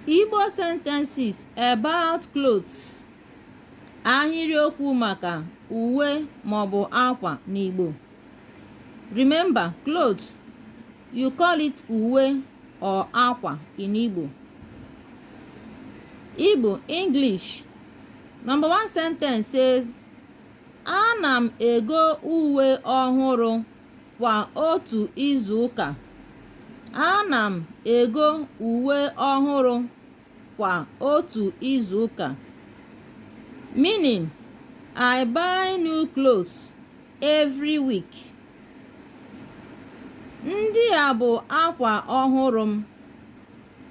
Igbo sentences about clothes ahịrịokwu maka uwe maọbụ akwa n'Igbo remember clothes you call it uwe or akwa in Igbo Igbo English number one sentence says ana m ego uwe ọhụrụ Kwa otu izu ụka, ana m ego uwe ọhụrụ kwa otu izu ụka. Meaning, I buy new clothes every week. Ndị a bụ akwa ọhụrụ m.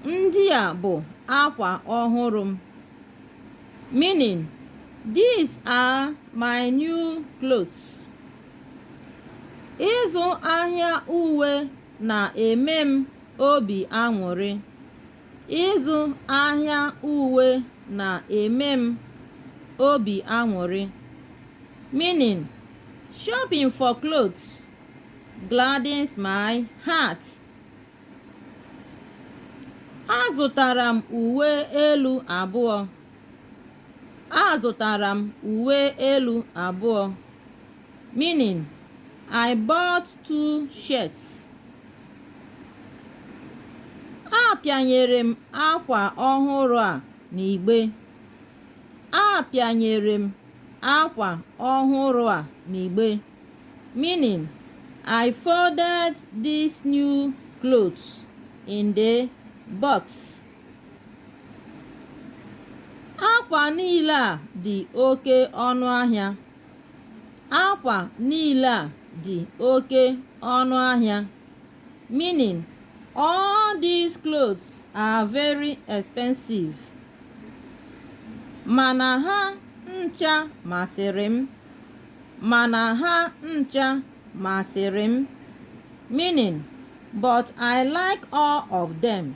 Ndị a bụ akwa ọhụrụ m. Meaning, these are my new clothes. Ịzụ ahịa uwe na-eme m obi aṅụrị. Ịzụ ahịa uwe na-eme m obi aṅụrị. Meaning, shopping for clothes gladdens my heart. Azụtara m uwe elu abụọ. Azụtara m uwe elu abụọ, meaning I bought two shirts. Apịanyere m akwa ọhụrụ a n'igbe. Apịanyere m akwa ọhụrụ a n'igbe, meaning I folded these new clothes in the box. akwa niile a dị oke ọnụ ahịa akwa niile a dị oke ọnụ ahịa meaning all these clothes are very expensive mana ha ncha masịrị m mana ha ncha masịrị m meaning but I like all of them.